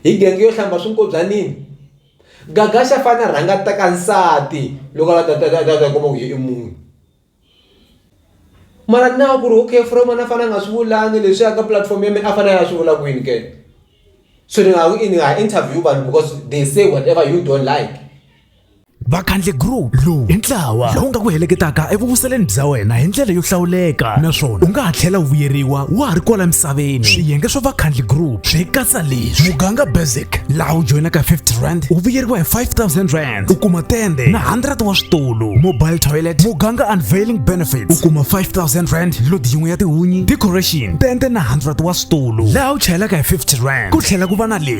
Hi genge yo hlamba swinkobyanini gaga xa fane a rhanga a teka nsati loko a ta kuma ku i munhu mara na ku ri okay from a na fana a nga swi vulanga leswi ya ka pulatifomo ya mina a fanele a swi vula kwini ke so ni nga ha ku i ni nga ha interview vanhu because they say whatever you don't like. vakhandle group lowu i ntlawa lowu nga ku heleketaka evuvuseleni bya wena hi ndlela yo hlawuleka naswona u nga ha tlhela u vuyeriwa wa ha ri kwala misaveni swiyenge swa vakhandle group swi katsa leswi muganga basic laha u joyinaka 50 rand u vuyeriwa hi 5000 rand u kuma tende na 100 wa switulu mobile toilet muganga unveiling benefits u kuma 5000 rand load yin'we ya tihunyi decoration tende na 100 wa switulu laha u chayelaka hi 50 rand ku tlhela ku va na leswi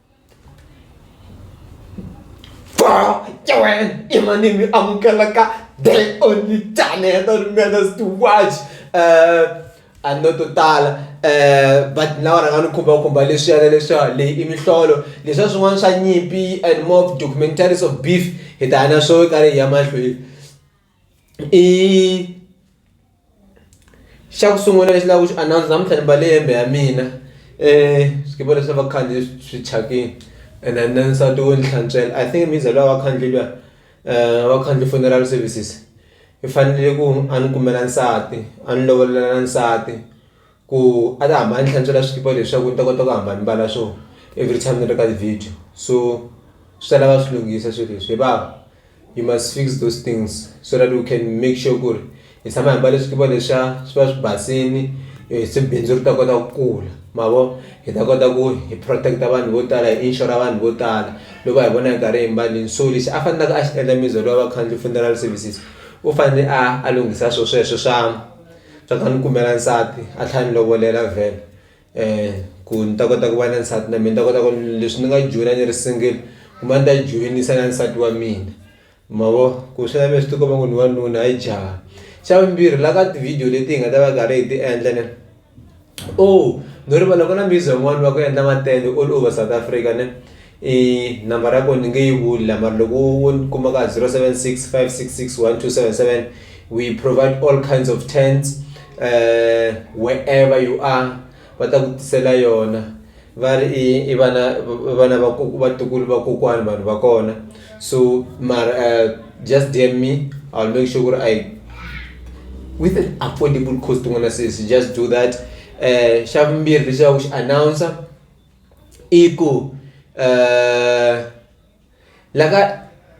Wow, Joanne, e mani mi amukela ka the only channel that remembers to watch. Uh, a no to tala um but na va rhanga ni khumbakhumba leswiyana leswiwa leyi i mihlolo leswiya swin'wana swa nyimpi and more of documentaries of beef hi ta ya na swo karhi hi ya mahlweni i xa ku sungula lexi lava ku xi announce namuntlha ni mbale hembe ya mina swikipa leswi a va khale swi thyakini and then nsati wo ni hlantswela I think mhizha luya wakhandli luya wakhandli funeral services i fanele ku a ni kumela nsati a ni lovolela nsati. ku a ni hamba a ni hlantswela swikipa leswaku ni ta kota ku hamba ni mbala swo everytime ni ri ka ti-video so swi ta lava swi lunghisa swilo leswi hi vava you must fix those things so that u can make sure ku ri hi tshama hi mbale swikipa leswiya swi va swi basini se bindzu ri ta kota ku kula ma vo hi ta kota ku hi protect-a vanhu vo tala hi inxora vanhu vo tala loko va hi vona hi karhi hi mbalini so lexi a faneleke a xi endla means loko a va khandle funeral services u fanele a a lunghisa swo sweswo swa. Swa ku a ni kumela nsati a tlhela a ni lovolela vhele ku ni ta kota ku va na nsati na mina ni ta kota ku leswi ni nga joyina ni ri single kumbe a ni ta yi joyinisa na nsati wa mina ma vo ku swi lava swi ti komba ku ni wanuna hayi jaha xa vumbirhi la ka ti-video leti hi nga ta va karhi hi ti endla . Oh no rivala ku na music yin'wani va ku endla matende all over South Africa ne i number ya ko ni nge yi vuli la mara loko wo wo ni kuma ka zero seven six five six six one two seven seven we provide all kinds of tents wherever you are va ta ku tisela yona. va ri i i vana vana va ku vatukulu va kokwana vanhu va kona so mara just DM me I'll make sure ku ri I with an affordable cost u nga na sesi just do that um xa vumbirhi lexi va ku xi announcer i ku . la ka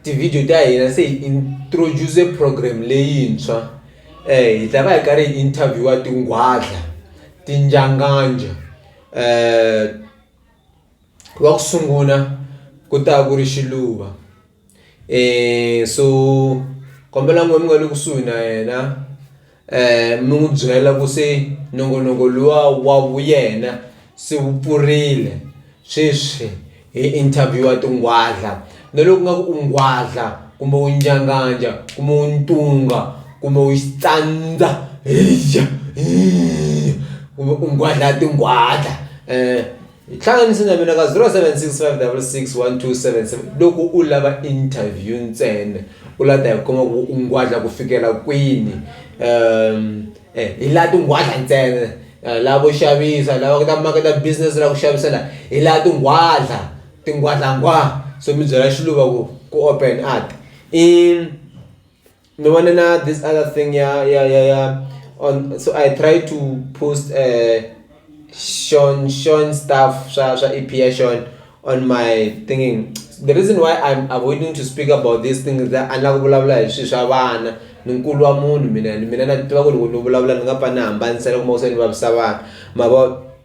tivhidiyo ta hina se hi introduce program leyintshwa um hi ta va hi karhi hi interview-a tinghwadla tinjanganja um wa ku sungula ku ta ku ri xiluva um so kombela n'wina mi nga le kusuhi na yena. mi n'wi byela ku se nongonoko luwa wa yena se wu pfurile sweswi hi interview-a tinghwadla na loku nga ku u nghwadla kumbe u njhanganja kumbe u ntunga kumbe u xitsandza heyi u nghwadla tinghwadla . Hlanganisa na mina ka 0765661277 loko u lava interview ntsena u la ta hi kuma ku u ngwadla ku fikela kwini um eh, hi laha tinghwadla ntsena eh, lava vo xavisa lava ta maketa business la ku xavisa la hi laha tinghwadla tinghwadlangwa so mi byela xiluva ku ku open art i Ni vone na this other thing ya ya ya ya on so I try to post Sean Sean stuff swa swa Aphiya Sean on my thingy the reason why I'm avoiding to speak about this thing is that a ni la ku vulavula hi swilo swa vana ni nkulu wa munhu mina ende mina na tiva ku loko ni vulavula ni nga pfa ni hambanisa loko se ni vavisa vanhu ma vo.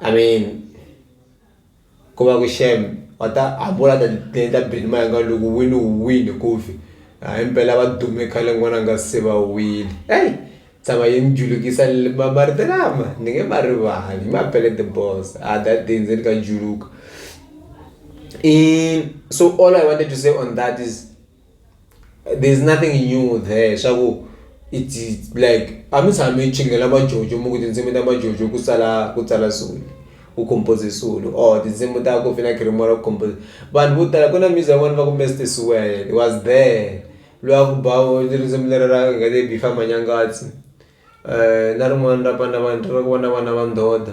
I mean ku va ku shame va ta hambi wo la ta ti endla beni ma yanga loko u win u win ku fi hayi mpela va dume khale n'wana a nga se va wile heyi tshama yi ni julukisa marito lama ni nge ma rivali hi mampela the boss ha that day ndzeni ka juluka so all I wanted to say on that is. there's nothing new there swa ku it's it's like a mi tshami mi chingela majojo mi ku tinsimu ta majojo ku tsala ku tsala swilo ku compose-ze swilo or tinsimu ta Kofi na Creamore ku compose-ze vanhu vo tala ku na music ya vona va ku Mister Sewela was there lwa ku ba risimu lera ra nga le Before Manyangatsi na rin'wana ra Bana Bana ra ku va na vana va ndhodha.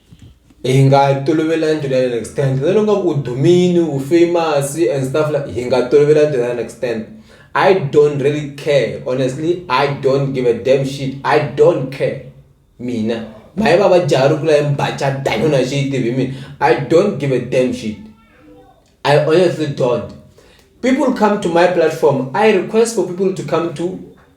Hi nga tolovelanga to the other extent na loko va ku u dumile u famous and stuff like hi nga tolovelanga to the other extent I don't really care honestly I don't give a damn shit I don't care mina mhani va va jaha rungula la ya mi ba cata a ni voni a xi yi tivi hi mina I don't give a damn shit I honestly don't people come to my platform I request for people to come to.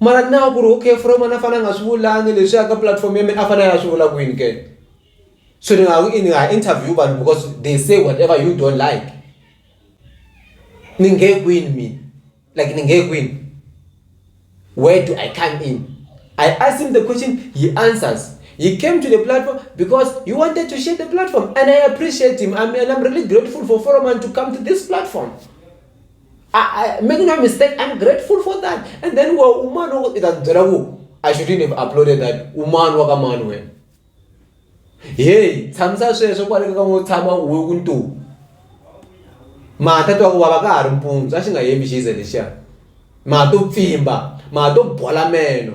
Mara ni na ku ri okay from a ni fanele ni nga swi vulanga leswiya ka pulatifomo ya mina a fanele a ya swi vula kwini ke. So ni nga ha ku i ni nga interview vanhu because they say whatever you don't like. Ni nge kwini mina like ni nge kwini where do I come in. I asked him the question he answers he came to the platform because he wanted to share the platform and I appreciate him and I'm really grateful for Froment to come to this platform. I, I, make no mistake, I'm grateful for that. And then well, woman itanzeraku, I shouldn't have uploaded that. Woman waka man when. Hey, tsamsa sweswo kwale ka ngo tshama uwe kuntu. Mata to baba ka ha ri mpunzu, a xi nga yemi xize lexiya. Mata to pfimba, mata to bola meno.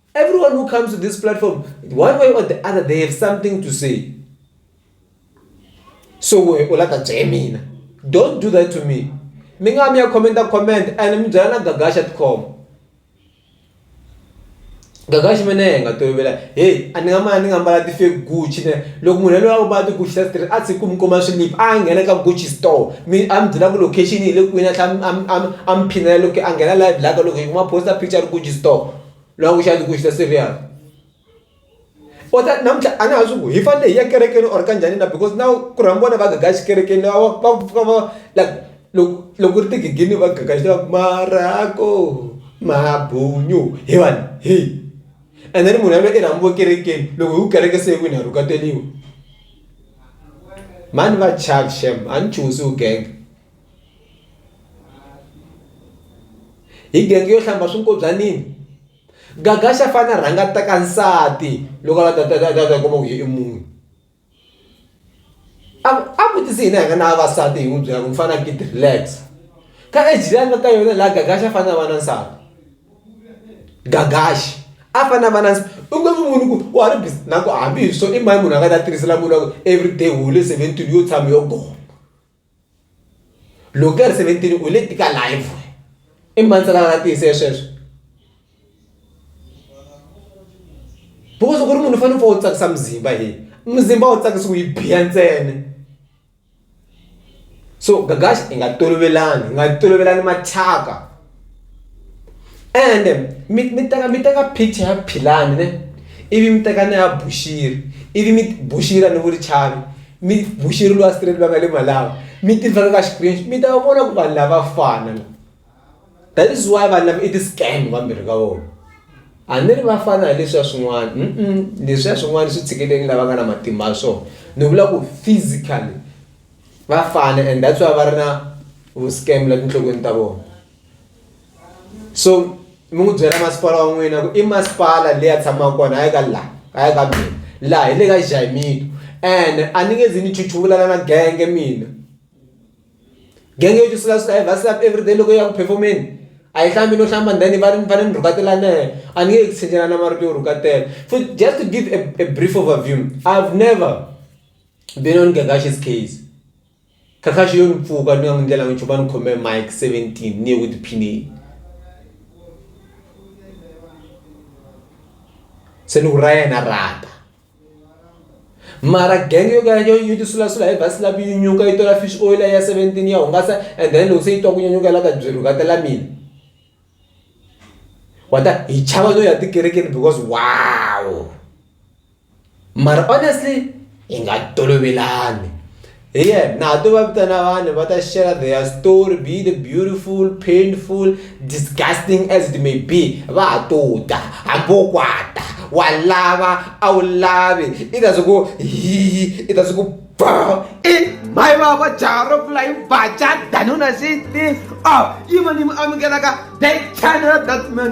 Everyone who comes to this platform, one way or the other, they have something to say. So we olata Jamina. Don't do that to me. Minga mi comment a comment and mjana gagasha.com. Gagashi mene nga to bela. Hey, aninga ma aninga mbala ti fake Gucci ne. Loko munhu loyi a ba ti Gucci ta straight a tsi ku mkoma slip a nghena ka Gucci store. Mi am byela ku location yi le kwini a tlha am am am phinela loko a nghena live la ka loko yi kuma poster picture Gucci store. loko ku xana ku xi ta serious or that namuntlha a na ha swi ku hi fanele hi ya ekerekeni or ka njhani na because na ku rhamba vona va gaga xikerekeni va va fika va like loko loko ku ri tigigini va gaga xi tiva ku marako mabunyu hi vanhu hi and then munhu yaloye i rhambiwe ekerekeni loko hi ku kereke se yi wini ha rhuketeliwa mhani va charge shame a ni chuhi se u genge. Hi bangi yo hlamba swinkobyanini gaga xa fane a rhanga a teka nsati loko a lava ta ta ta ta ta kuma ku i munhu a a vutisa hina hi nga na vavasati hi n'wi byela ku mufana akiti relax ka age leyi a nga ka yona la gaga xa fanele a va na nsati gaga xa a fanele a va na u nge n'wi voni ku wa ha ri busy na ku hambi hi swo i mani munhu a nga ta tirhisela munhu wa ku everyday u hole seventeen yo tshama yo goma. loko ka ri seventeen u le tika life i mani se a nga tiyisa sweswo because loko u ri munhu u fanele u pfa u tsakisa muzimba he muzimba a wu tsakisiwi hi biya ntsena so gagax hi nga tolovelani hi nga tolovelani mathyaka. ende mi mi teka mi teka picture ya Philani ne ivi mi teka na ya Bushiri ivi mi Bushiri a ni vuli Chavi mi Bushiri luya straight la nga le Malawi mi ti veka ka Xikwembu mi ta va vona ku vanhu lava va fana la that is why vanhu lava i ti scam vambirhi ka vona a ni ri va fana hi leswiya swin'wana leswiya swin'wana swi tshikelele lava nga na matimba ya swona ni vula ku physically. va fana and that's why va ri na vu-scam la tinhlokweni ta vona so mi n'wi byela masipala wa n'wina ku i masipala leyi a tshamaka kona hayi ka laha hayi ka mina laha hi le ka jaimito and a ni nge zi ni chuchuvulana na genge mina genge yo tisula swi va slap everyday loko ya ku performeni a yi hlambi no hlamba ndhani va ri ni fanele ni rhukatelana yena a ni nge yi tshinelana marito yo rhukatela futhi just to give a a brief overview I've never. Then on Kakashi's case, Kakashi yo ni pfuka ni nga n'wi ndlela nchumu a ni khome mic 17 ni ye ku tiphineni. Se ni ku ra yena rata. Mara gang yo ka yo yo tisulasula hi vhasi lapi yi nyuka yi tola fish oil ya 17 ya hungasa and then loko se yi twa ku nyanyuka la ka byi rhukatela mina. Wata hi chava no ya tikerekeni because wow. mara honestly hi nga tolovelani hi yena na ha to va vitana vanhu va ta share their story be the beautiful painful disgusting as it may be va ha to ta hambi wo kwata wa lava a wu lavi i ta swi ku hi i ta swi ku ba i mayi va va jaro flying bacha danuna sixteen oh yima ni mi amukelaka that channel that man